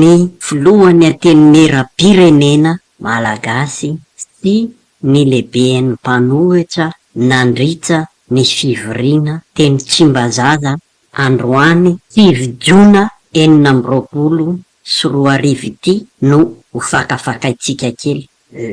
ny filohan'ny Antenimierampirenena malagasy sy ny lehiben'ny mpanohitra nandritra ny fivoriana teny Tsimbazaza androany sivy jona enina amby roapolo sy roa arivo ity no ho fakafakaintsika kely.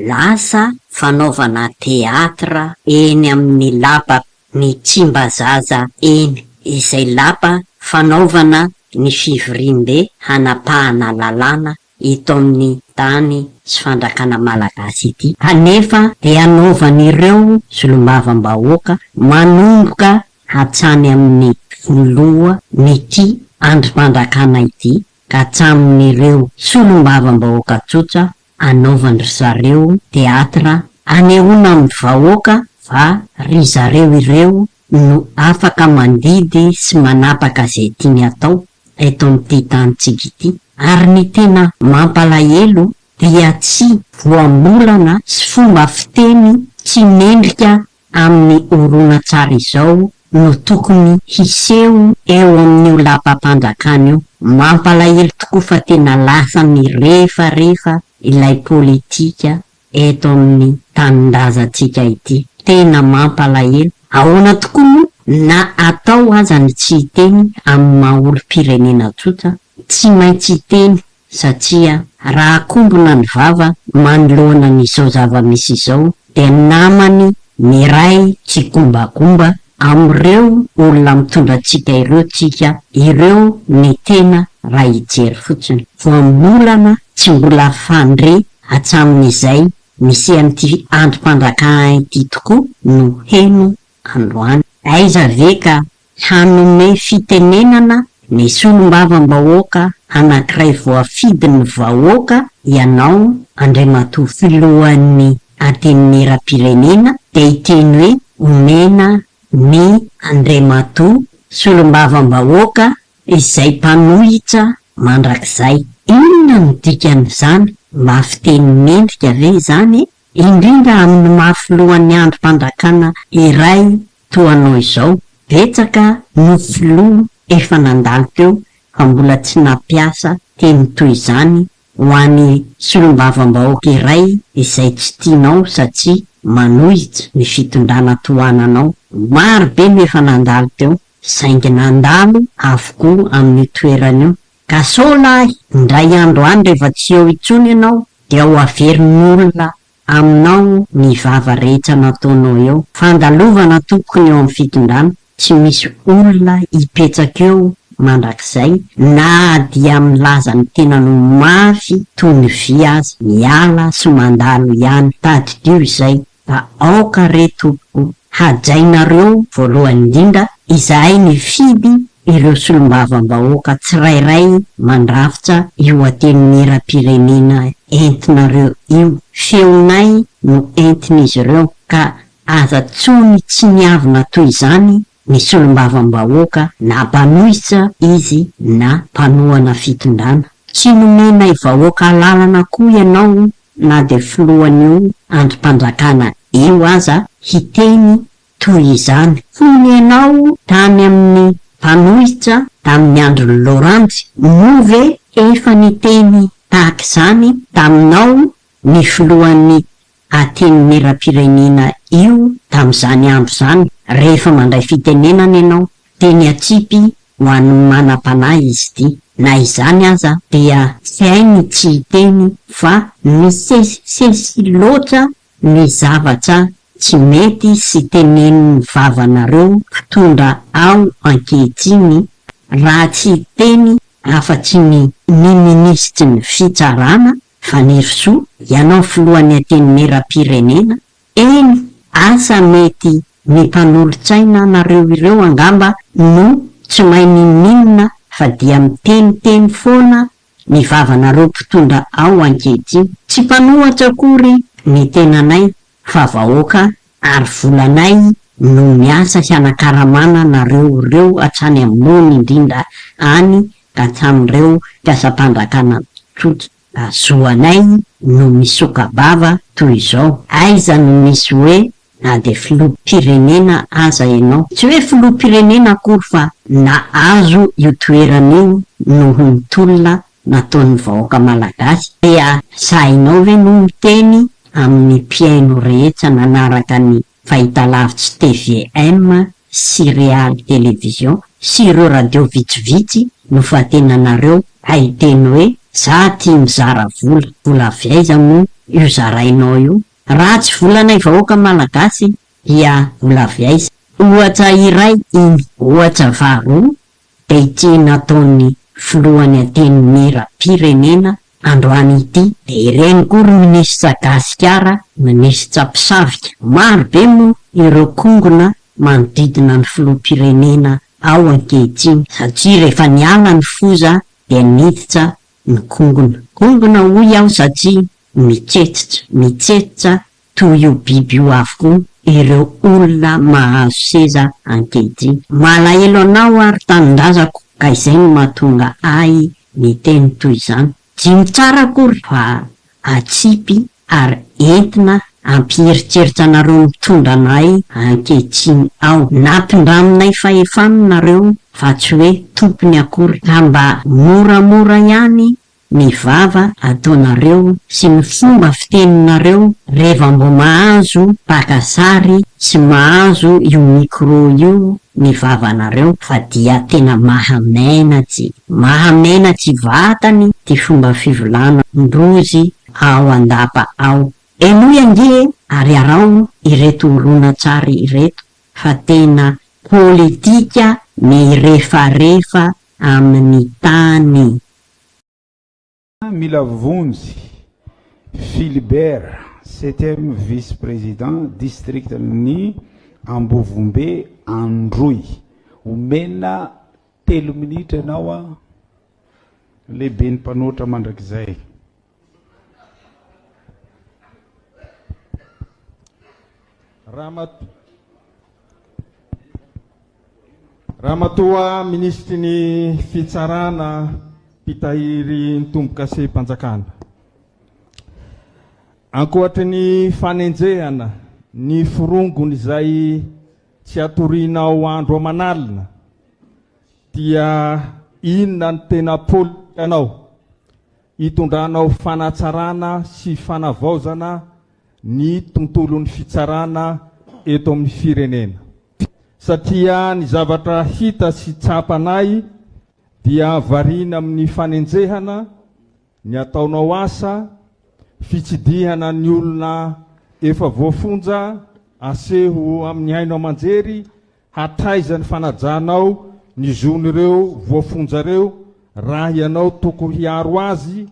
Lasa fanaovana theatre eny amin'ny lapa ny Tsimbazaza eny, izay lapa fanaovana ny fivoriambe hanapahana lalàna eto amin'ny tany sy fandrakana malagasy ity, kanefa dia anaovan'ireo solombavambahoaka manomboka hatsany amin'ny filoha n'ity andrim-pandrakana ity ka hatramin'ireo solombavambahoaka tsotra anaovan-dry zareo teatra anehoana amin'ny vahoaka fa ry zareo ireo no afaka mandidy sy manapaka izay tiany atao eto amin'ity tanintsika ity. Ary ny tena mampalahelo dia tsy voambolana sy fomba fiteny tsy mendrika amin'ny horonantsary izao no tokony hiseho eo amin'io lapam-panjakana io. Mampalahelo tokoa fa tena lasa mirefarefa ilay politika eto amin'ny tanindrazantsika ity. Tena mampalahelo. Ahoana tokoa moa na atao aza ny tsy hiteny amin'ny maha olom-pirenena tsotra, tsy maintsy hiteny satria raha akombona ny vava manoloana an' izao zava-misy izao dia ny namany miray tsikombagomba amin' ireo olona mitondra antsika ireo tsika ireo ny tena raha hijery fotsiny. Voambolana tsy mbola fandre hatsamin' izay nisian' ity andrim-panjakana ity tokoa no heno androany. Aiza ve ka Hanome fitenenana ny solombavambahoaka anankiray voafidin'ny vahoaka ianao Andriamatoa Filohan'ny Antenimierampirenena dia hiteny hoe omena ny Andriamatoa solombavambahoaka izay mpanohitra mandrakizay. Inona no dikan'izany? Mafy teny mendrika ve izany e? Indrindra amin'ny maha filohan'ny andrim-panjakana iray toa anao izao, betsaka no filoha efa nandalo teo fa mbola tsy nampiasa teny toy izany ho an'ny solombavambahoaka iray izay tsy tianao satria manohitra ny fitondrana tohananao. Maro be no efa nandalo teo saingy nandalo avokoa amin'io toerana io Ka sao lahy indray andro any rehefa tsy eo intsony ianao dia ho averin'olona aminao ny vava rehetra nataonao eo. Fandalovana tompoko ny eo amin'ny fitondrana, tsy misy olona hipetraka eo mandrakizay na dia milaza ny tenany ho mafy toy ny vy aza. Miala sy mandalo ihany. Tadidio izay. Fa aoka re tompoko hajainareo voalohany indrindra izahay mifidy ireo solombavambahoaka tsirairay mandrafitra io antenimieram-pirenena entinareo io, feonay no entin'izy ireo ka aza tsony tsiniavina toy izany ny solombavambahoaka na mpanohitra izy na mpanohana fitondrana. Tsy nomenay vahoaka alalana koa ianao na dia filohan'io andrim-pandrakana io aza hiteny toy izany. Fony ianao tany amin'ny mpanohitra tamin'ny andron'i Laurandry, moa ve efa niteny tahaka izany taminao ny filohan'ny Aten'ny Miram-pirenena io tamin'izany andro izany, rehefa mandray fitenenana ianao, dia niatsipy ho an'ny manam-panahy izy ity. Na izany aza, dia tsy hainy tsy hiteny fa misesisesy loatra ny zavatra tsy mety sy tenenin'ny vavanareo mpitondra ao ankehitriny, raha tsy hiteny afa-tsy ny ny minisitry ny Fitsarana, Fanirisoa, ianao filohan'ny antenimieram-pirenena, eny asa mety ny mpanolotsaina anareo ireo angamba no tsy mahay ninoninona fa dia miteniteny foana ny vavanareo mpitondra ao ankehitriny. Tsy mpanohatra akory ny tenanay fa vahoaka ary volanay no miasa hianakaramana anareo reo hatrany ambony indrindra any ka hatramreo mpiasam-panjakana tsotra zo anay no misoka-bava toy izao, aiza no misy hoe na dia filoham-pirenena aza ianao, tsy hoe filoham-pirenena akory fa nahazo io toerana io noho ny tolona nataon'ny vahoaka malagasy dia sahinao ve no miteny amin'ny mpihaino rehetra nanaraka ny fahitalavitsy tvm sy real television sy ireo radio vitsivitsy nofantenanareo hiteny hoe za tia mizara vola, vola avy aiza moa io zarainao io? Raha tsy volanay vahoaka malagasy dia vola avy aiza? Ohatra iray iny. Ohatra faharoa, Dia ity nataon'ny filohan'ny antenimieram-pirenena androany ity dia ireny koa ry minisitra gasikara minisitra mpisavika. Maro be moa ireo kongona manodidina ny filoham-pirenena ao ankehitriny satria rehefa niala ny foza dia niditra ny kongona. Kongona hoy aho satria mitsetitra, mitsetitra Toy io biby io avokoa ireo olona mahazo seza ankehitriny. Malahelo anao aho ry tanindrazako ka izay no mahatonga ahy miteny toy izany. Jino tsara akory fa atsipy ary entina hampieritreritra anareo mitondra anay ankehitriny ao. Nampindraminay fahefana nareo fa tsy hoe tompony akory ka mba moramora ihany ny vava ataonareo sy ny fomba fiteninareo reva mbo mahazo paka sary sy mahazo io micro io ny vavanareo fa dia tena maha menatsy maha menatsy vatany ty fomba fivolana ndrozy ao andapa ao. Henoy ange ary araho ireto horonantsary ireto fa tena politika mirefarefa amin'ny tany Mila vonjy Philibert septième vice président district ny ambovombe androy omena telo minitra ianao an lehiben'ny mpanoatra mandrakizay. Ramatoa Minisitry ny Fitsarana, Mpitahirin-tombokasem-panjakana. Ankoatry ny fanenjehana ny forongony izay tsy atorianao andro aman'alina dia inona ny tena polikanao? Hitondranao fanatsarana sy fanavaozana ny tontolon'ny fitsarana eto amin'ny firenena satria ny zavatra hita sy tsapanay dia variana amin'ny fanenjehana ny ataonao asa, fitsidihana ny olona efa voafonja aseho amin'ny haino aman-jery Hatraiza ny fanajanao ny zon'ireo voafonja ireo raha ianao toko hiaro azy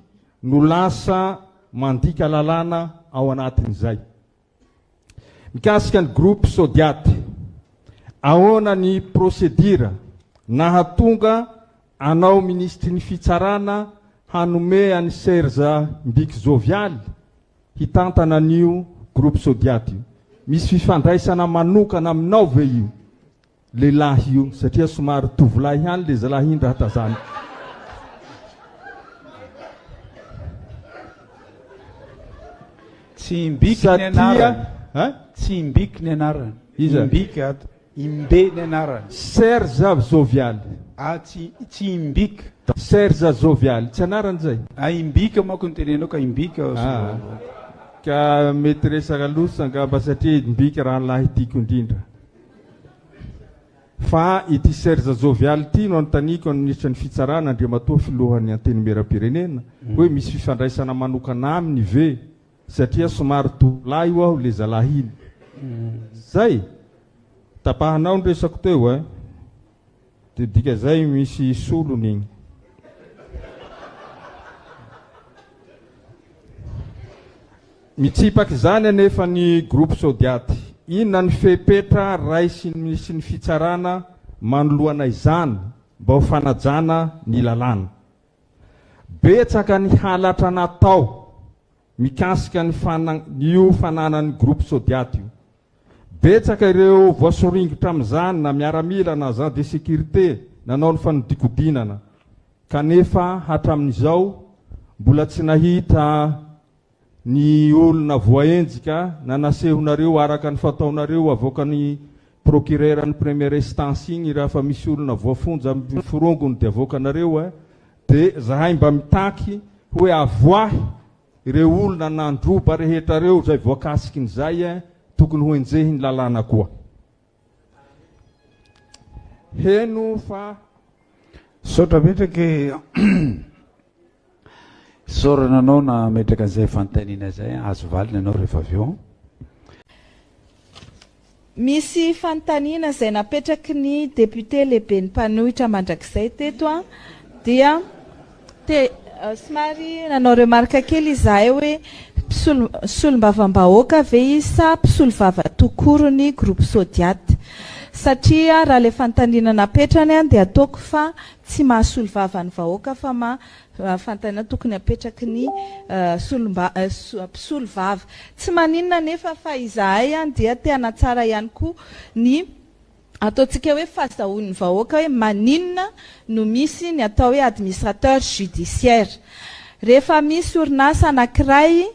no lasa mandika lalàna ao anatin'izay? Mikasika ny groupe Sodiat, ahoana ny procédure nahatonga Anao minisitry ny fitsarana hanome an'i Serge Mbiki Jovialy hitantana an'io groupe Sodiat io. Misy fifandraisana manokana aminao ve io lehilahy io satria somary tovolahy ihany le zalahy iny raha tazaniko. Tsy Mbiki ny anarany. Satria eh. Tsy Mbiki ny anarany. Iza? Mbiki ato. Imbe ny anarany. Serge Jovial, ah tsy tsy Imbika. Serge Jovial, tsy anarany izay? Ah Imbika manko no tenenao ka Imbika hozy Ah, ka mety resaka loza angamba satria Imbika rahalahy tiako indrindra. Fa ity Serge Jovial ity no anontaniako ny Minisitra ny Fitsarana, Andriamatoa Filohan'ny Antenimieram-pirenena, hoe misy fifandraisana manokana aminy ve satria somary tovolahy ho'aho le zalahy iny zay tapahanao ny resako teo eh de dika zay misy solony igny Mitsipaky izany anefa ny groupe Sodiat. Inona ny fepetra raisin'ny sy ny fitsarana manoloana izany mba ho fanajana ny lalàna? Betsaka ny halatra natao mikasika ny io fananan'ny groupe Sodiat io. Betsaka ireo voasoringotra amin'izany na miaramila na agent de sécurité nanao ny fanodikodinana kanefa hatramin'izao mbola tsy nahita ny olona voaenjika na nasehonareo araka ny fataonareo avoakan'ny procureur ny première instance igny rafa misy olona voafonja am forongony de avoakanareo a de zahay mba mitaky hoe avoahy reo olona nandroba rehetra reo zay voakasikin'izay a tokony hoenjehin'ny lalàna koa. Heno fa. Misaotra betsaka e. Isaorana anao nametraka an'izay fanontaniana izay. Azo valina ianao rehefa avy eo. Misy fanontaniana izay napetraky ny député lehiben'ny mpanohitra mandrakizay teto dia. Te somary nanao remarque kely izahay hoe mpisolo solombavambahoaka ve izy sa mpisolovava tout court ny groupe Sodiat? satria raha ilay fanontaniana napetrany dia ataoko fa tsy maha solovava ny vahoaka fa maha fanontaniana tokony apetraky ny solomba mpisolovava. Tsy maninona anefa fa izahay dia te hanatsara ihany koa ny. Ataontsika hoe fazahoan'ny vahoaka hoe maninona no misy ny atao hoe administrateur judiciaire. Rehefa misy orinasa anankiray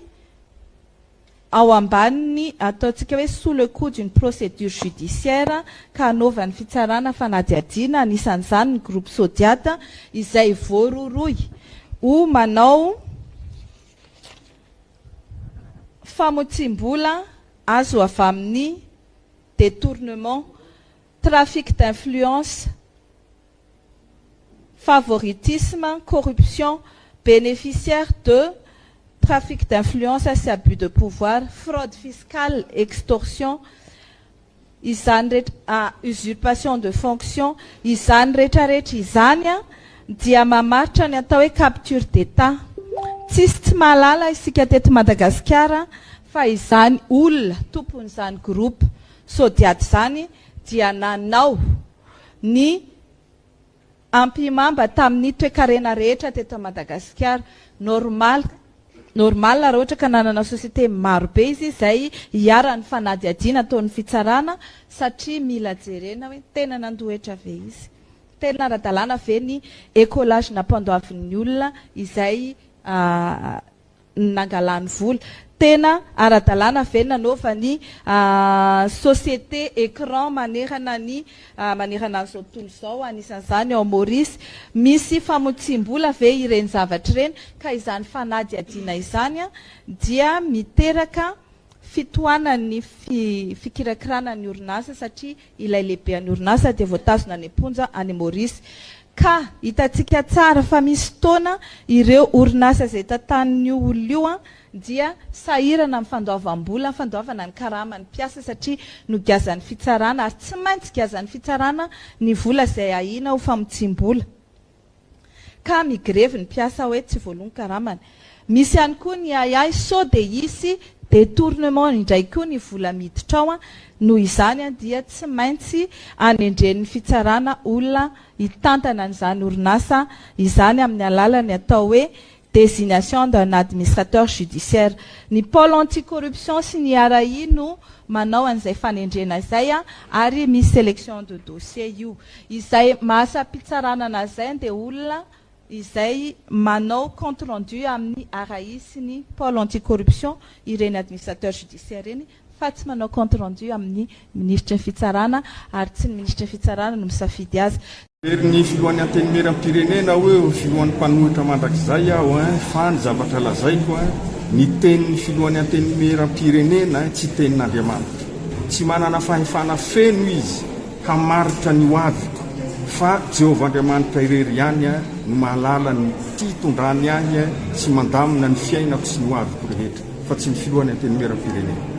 ao ambanin'ny ataontsika hoe sous le coup d'une procédure judiciaire ka anaovan'ny fitsarana fanadihadiana, anisan'izany ny groupe Sodiat, izay voarohirohy ho manao famotsiam-bola azo avy amin'ny detournement, trafic d'influence, favoritisme, corruption, beneficiaire de, trafic d'influence sy abus de pouvoir, fraude fiscale, extorsion, izany rehetra, usurpation de fonction, izany rehetrarehetra izany dia mamaritra ny atao hoe capture d'Etat. Tsisy tsy mahalala isika teto Madagasikara Fa izany olona tompon'izany groupe Sodiat izany dia nanao ny ampihimamba tamin'ny toekarena rehetra teto Madagasikara. Normal normal raha ohatra ka nanana société maro be izy izay iharan'ny fanadihadiana ataon'ny fitsarana satria mila jerena hoe tena nandoa hetra ve izy? Tena ara-dalàna ve ny écolage nampandoavin'ny olona izay ny nangalany vola. Tena ara-dalàna ve ny nanaova ny société écran manerana ny manerana an'izao tontolo izao, anisan'izany ao Maurice? Misy famotsiam-bola ve ireny zavatra ireny ka izany fanadihadiana izany dia miteraka fitohanan'ny fikirakirana ny orinasa satria ilay lehiben'ny orinasa dia voatazona any am-ponja any Maurice. Ka hitantsika tsara fa misy fotoana ireo orinasa izay tantanin'io olona io dia sahirana amin'ny fandoavam-bola, fandoavana ny karaman'ny mpiasa satria nogiazan'ny fitsarana, ary tsy maintsy giazan'ny fitsarana ny vola izay ahiana ho famotsiam-bola. ka migrevy ny mpiasa hoe tsy voaloa ny karamany. Misy ihany koa ny ahiahy sao dia hisy detournement indray koa ny vola miditra ao, noho izany dia tsy maintsy anendren'ny fitsarana olona hitantana an'izany orinasa izany amin'ny alalan'ny atao hoe désignation d'un administrateur judiciaire. Ny pôle anti-corruption sy ny RAI no manao an'izay fanendrena izay ary misy sélection de dossier io. Izay maha-asam-pitsarana an'zay andeholona izay manao compte rendu amin'ny RAI sy ny pôle anti-corruption ireny administrateur judiciaire ireny fa tsy manao compte rendu amin'ny Minisitry ny Fitsarana ary tsy ny Minisitry ny Fitsarana no misafidy azy. Very ny filohan'ny Antenimieram-pirenena aho eo filohan'ny mpanohitra mandrakizay aho eh, fa ny zavatra lazaiko eh, ny tenin'ny filohan'ny Antenimieram-pirenena eh, tsy tenin'Andriamanitra. Tsy manana fahefana feno izy hamaritra ny ho aviko, fa Jehovah Andriamanitra irery ihany eh, no mahalala ny fitondrany ahy eh, sy mandamina ny fiainako sy ny ho aviko rehetra. fa tsy ny filohan'ny antenimieran'ny firenena.